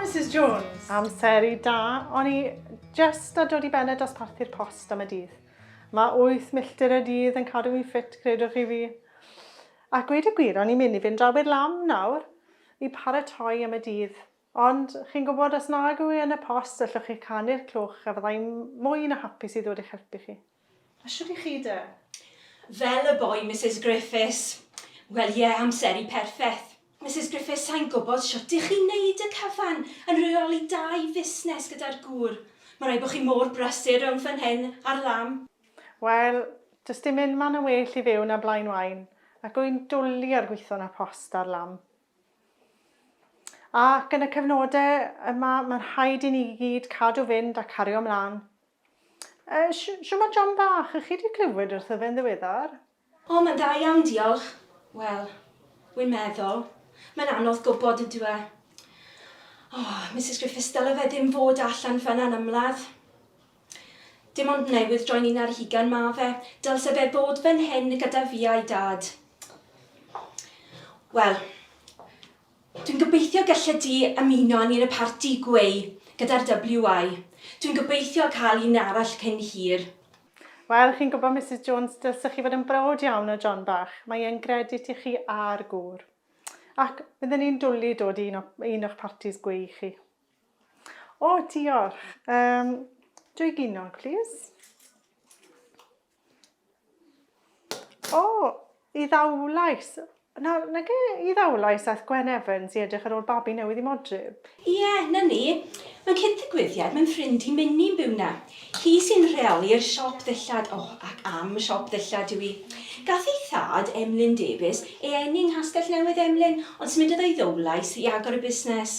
Mrs Jones. Amser i da, o'n i just a dod i ben y dosparthu'r post am y dydd. Mae 8 milltir y dydd yn cadw fi ffit, credwch chi fi. A gweud y gwir, o'n i'n mynd i fynd draw i'r lam nawr i paratoi am y dydd. Ond chi'n gwybod, os nag yw e yn y post, allwch chi canu'r clwch a fyddai'n mwy na hapus i ddod i'ch helpu chi. A shwt i chi de? Fel y boi Misus Griffiths. Wel ie, amseru perffeth. Misus Griffiths, sai'n gwybod shwt i chi neud y cyfan yn rheoli dau fusnes gyda'r gŵr. Ma rai bo chi mor brysur rownd fan hyn a'r lan. Wel, does dim unman yn well i fyw na Blaen Waun, ac wy'n dwli ar gwitho na post a'r lan. Ac yn y cyfnode yma, ma'n rhaid i ni gyd cadw fynd a cario mlan. Shwmae John bach, chi 'di clywed wrtho fe'n ddiweddar? O, mae'n dda iawn diolch. Wel, wi'n meddwl, mae'n anodd gwybod ydyw e? O, Misus Griffiths, dyle fe ddim fod allan fynna'n ymladd. Dim ond newydd droi'n un ar hugain ma' fe, dylse fe bod fan hyn gyda fi a'i dad. Wel, Dwi'n gobeithio gellet ti ymuno â ni yn y parti gweu gyda'r WI. Dwi'n gobeithio cael un arall cyn hir. Wel, chi'n gwybod, Misus Jones, dylsech chi fod yn browd iawn o John bach. Mae e'n gredit i chi a'r gŵr. Ac bydden ni'n dwli dod i un o, un o'ch partis gweu chi. O, diolch. Um, dwy ginog, plîs. O, i ddawlais. Na, nag e, i ddawlais aeth Gwen Evans i edrych ar ôl babi newydd i Modryb. Ie, 'na ni. Mae'n cyd-ddigwyddiad, mae'n ffrind i Minnie'n byw 'na. Hi sy'n rheoli'r siop ddillad, o, ac am siop ddillad yw hi. Gath ei thad, Emlyn Davies, ei eni yng Nghastell Newydd Emlyn, ond symudodd o i Ddowlais i agor y busnes.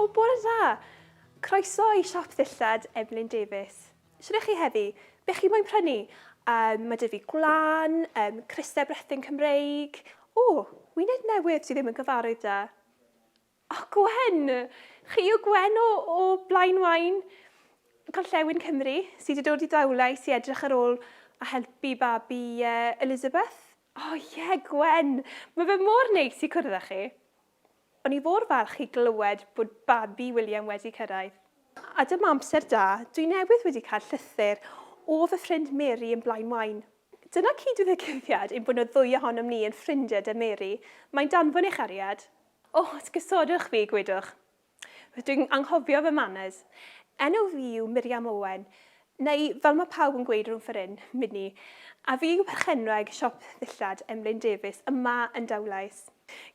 O, bore dda! Croeso i siop ddillad Emlyn Davies. Shwt chi heddi? Be chi moyn prynu? Um, mae dy fi gwlan, um, crysau brethyn Cymreig. O, wyneb newydd sydd ddim yn gyfarwydd da. O Gwen! Chi yw Gwen o, o Blaen Wain, Gorllewin Cymru, sydd wedi dod i Dawlais i edrych ar ôl a helpu babi uh, Elizabeth? O oh, ie, yeah, Gwen! Mae fe mor neis i cwrdd â chi. O'n i fôr falch i glywed bod babi William wedi cyrraedd. A dyma amser da, dwi newydd wedi cael llythyr o fy ffrind Mary yn Blaen Wain. Dyna cyd-ddigwyddiad ein bod nhw ddwy ohonom ni yn ffrindiau 'da Mary. Mae'n danfon ei chariad. O, esgusodwch fi, gwydwch. Rydw i'n anghofio fy manners. Enw fi yw Miriam Owen, neu fel mae pawb yn gweud rhwng ffor hyn, Minni, a fi yw perchenwraig siop ddillad Emlyn Davies yma yn Dowlais.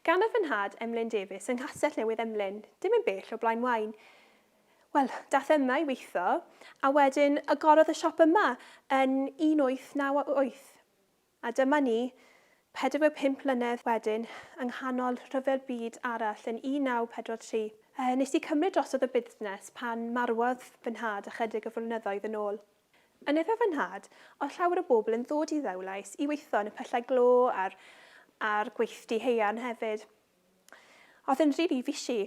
Ganodd fy nhad Emlyn Davies yng Nghastell Newydd Emlyn, dim yn bell o Blaen Waun. Wel, daeth e yma i weithio, a wedyn agorodd y siop yma yn 1898. A dyma ni, 45 mlynedd wedyn, yng nghanol rhyfel byd arall yn 1943. Nes i cymryd drosodd y busnes pan marwodd fy nhad ychydig o flynyddoedd yn ôl. Yn efo fy nhad, oedd llawer o bobl yn ddod i Ddewlais i weithio yn y pyllau glo a'r a'r gweithdy haearn hefyd. Oedd yn rili fishy.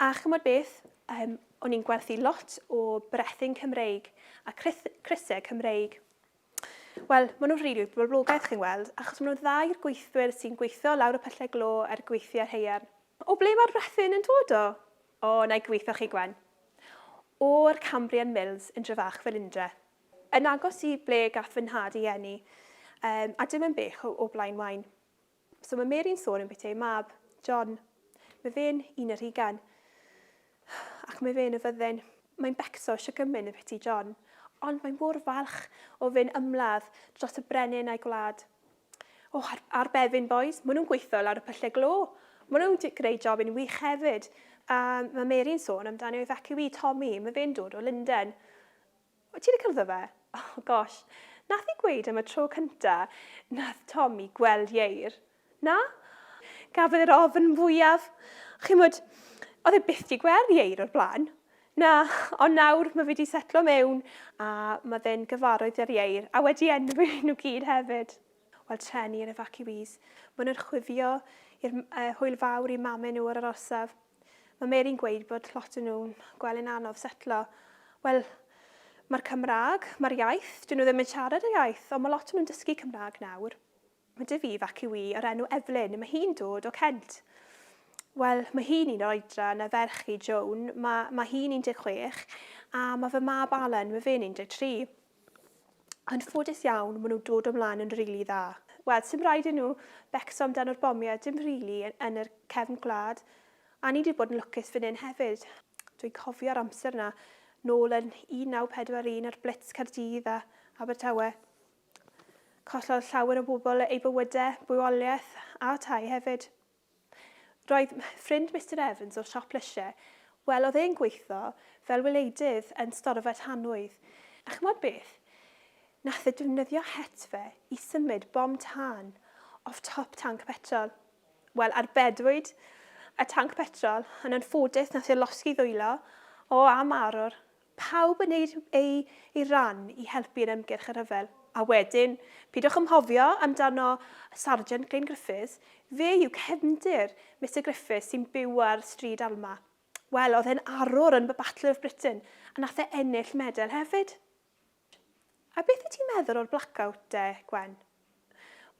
A ch'mod beth? Yym, o'n i'n gwerthu lot o brethyn Cymreig a crys- crysau Cymreig. Wel, maen nhw'n rili boblogaidd, chi'n weld, achos maen nhw'n dda i'r gweithwyr sy'n gweithio lawr y pyllau glo a'r gweithiau haearn. O ble mae'r rhethyn yn dod o? O, na i gweithio chi, Gwen. O'r Cambrian Mills yn Dryfach fel Indre. Yn agos i ble gath fy nhad ei eni, a dim yn bell o Blaenwaun. So mae Mary'n sôn am beth ei mab, John. Mae fe'n un yr hugain. Ac mae fe'n y fyddin. Mae'n becso eisiau gymyn y beth i John. Ond mae'n mor falch o fe'n ymladd dros y brenin a'i gwlad. O, oh, ar, ar befin, boys. Mae nhw'n gweithio lawr y pyllau glo. Mae nhw'n greu job yn wych hefyd. A mae Mary'n sôn amdano ei fac i wi, Tommy. Mae fe'n dod o Lundain. Wyt ti 'di cyfddo fe? Oh gosh, nath hi gweud am y tro cynta nath Tommy gweld Ieir. Na? Gafodd e'r ofn fwyaf. Chimod, oedd e byth 'di gweld Ieir o'r blaen. Na, ond nawr mae fe 'di setlo mewn a mae fe'n gyfarwydd â'r Ieir a wedi enwi nhw gyd hefyd. Wel, treni yr efaciwîs. Maen nhw'n chwifio i'r hwyl fawr i mame nhw ar yr orsaf. Mae Mary'n gweud bod lot o nhw'n gweld yn anodd setlo. Wel, mae'r Cymraeg, mae'r iaith, dyn nhw ddim yn siarad y iaith, ond mae lot o nhw'n dysgu Cymraeg nawr. Mae dy fi fac yw i o'r enw Evelyn, mae hi'n dod o Kent. Wel, mae hi'n un o'r oedran na ferch i, Joan, mae, mae hi'n 16, a mae fy mab Alan, mae fe'n 13. Yn ffodus iawn, ma' nhw'n dod o mlaen yn rili dda. Wel, sim raid i nhw becso amdano'r bomiau, dim rili, yn yr cefn gwlad. A ni 'di bod yn lwcus fan hyn hefyd. Dwi'n cofio'r amser 'na, nôl yn 1941 a'r blitz Caerdydd a Abertawe. Collodd llawer o bobl eu bywydau, bywoliaeth a tai hefyd. Roedd ffrind Mister Evans o'r siop lysiau, wel, oedd e'n gweithio fel wileidydd yn storfa tanwydd, a ch'mod beth? Nath e defnyddio het fe i symud bom tân off top tanc petrol. Wel, arbedwyd y tanc petrol, yn anffodus nath e losgi ddwylo, o, a marw'r Pawb yn neud eu eu ran i helpu yn ymgyrch y rhyfel. A wedyn, pidwch ymhofio amdano Sarjant Glyn Griffiths, fe yw cefndir Mister Griffiths sy'n byw ar Stryd Alma. Wel, oedd e'n arwr yn y Battle of Britain, a nath e ennill medal hefyd. A beth wyt ti'n meddwl o'r blackout de, Gwen?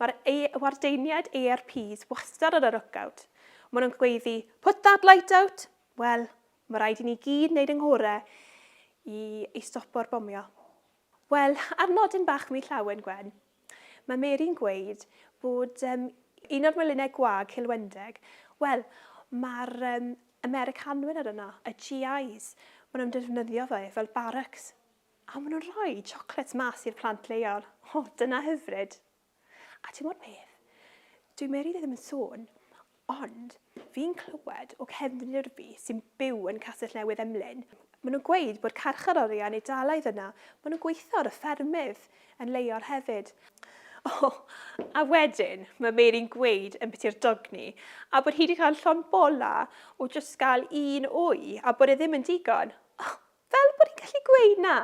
Mae'r wardeiniaid ARPs wastad ar y lookout. Maen nhw'n gweiddi, put that light out! Wel, mae rhaid i ni gyd wneud yng nghorau i, i stopo'r bomio. Wel, ar nodyn bach mi llawen, Gwen, mae Mary'n gweud bod um, un o'r melinnau gwag cilwendeg, wel, mae'r um, Americanwyr ar yno, y GIs, maen nhw'n defnyddio fe fel barracks. A maen nhw'n rhoi chocolates mas i'r plant leol. O, dyna hyfryd. A ti'n bod beth? Dwi meri ddim yn sôn, ond fi'n clywed o cefnir fi sy'n byw yn Castell Newydd Emlyn. Maen nhw'n gweud bod carcharorion yn Eidalaidd yna. Maen nhw'n gweithio ar y ffermydd yn leol hefyd. O, oh, a wedyn mae Meri'n gweud yn biti'r dogni a bod hi wedi cael llon bola o jyst gael un wy a bod e ddim yn digon. Oh, Fel bod hi'n gallu gweud na!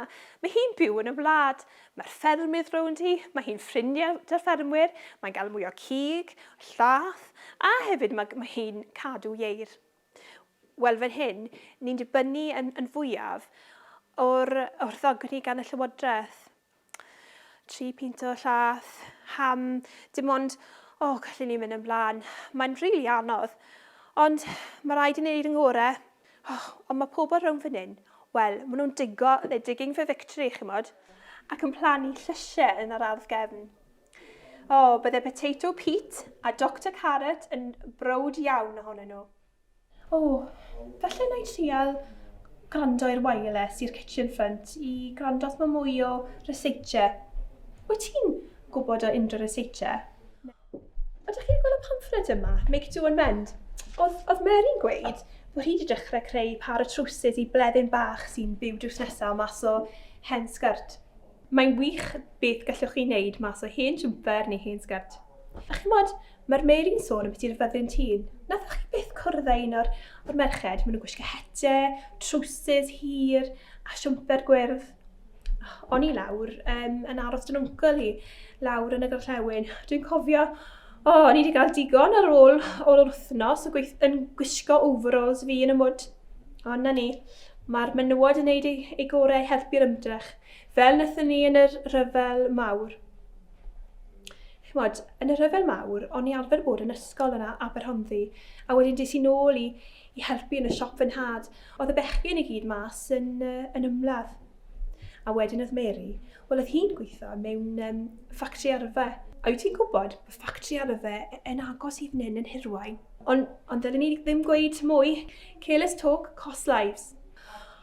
Mae hi'n byw yn y wlad. Mae'r ffermydd rownd hi, mae hi'n ffrindiau 'da'r ffermwyr, mae'n gael mwy o cig, llath, a hefyd ma' mae hi'n cadw ieir. Wel fan hyn, ni'n dibynnu yn yn fwyaf o'r o'r ddogni gan y Llywodraeth. tri pint o llath, ham, dim ond, o, oh, gallu ni mynd yn blaen. Mae'n rili really anodd. Ond mae rhaid i ni wneud yn gore. Oh, ond mae pobl rhwng fan hyn, wel, maen nhw'n digo, they're digging for victory, chi'n modd, ac yn plannu llysiau yn yr ardd gefn. O, oh, bydde Potato Pete a Dr Carrot yn brod iawn ohonyn nhw. O, falle wna i trial gwrando i'r wireless i'r kitchen front i gwrando os mae mwy o researche. Wyt ti'n gwybod o unrhyw researche? Ydych chi'n gweld y pamffled yma, Make Do and Mend? Oedd, oedd Mary'n gweud bod hi wedi dechrau creu par o trowsus i bleddyn bach sy'n byw drws nesaf mas o hen sgert. Mae'n wych beth gallwch chi wneud mas o hen jwmper neu hen sgert. A chimod, Mae'r Mary'n sôn am biti'r fyddin tîn. Nathoch chi byth cwrdd â un o'r, or merched? Maen nhw'n gwisgo hete, trwsus hir a siwmper gwyrdd. O'n i lawr um, yn aros dyn wncl hi, lawr yn y gorllewin. Dwi'n cofio, o, oh, o'n i wedi cael digon ar ôl o'r wythnos o gweith, yn gwisgo overalls fi yn y mwd. Ond na ni, mae'r menywod yn gwneud ei, ei gorau i helpu'r ymdrech, fel wnaethon ni yn yr rhyfel mawr. Ch'mod, yn y rhyfel mawr, o'n i arfer bod yn ysgol yn Aberhonddu, a wedyn des i nôl i i helpu yn y siop fy nhad. O'dd y bechgyn i gyd mas yn yn ymladd. A wedyn o'dd Mary, wel o'dd hi'n gwitho mewn yym ffactri arfe. A wyt ti'n gwbod, ma' ffactri arfe yn agos i fyn 'yn yn Hirwaun. On- ond ddylen i ddim gweud mwy. Careless talk costs lives.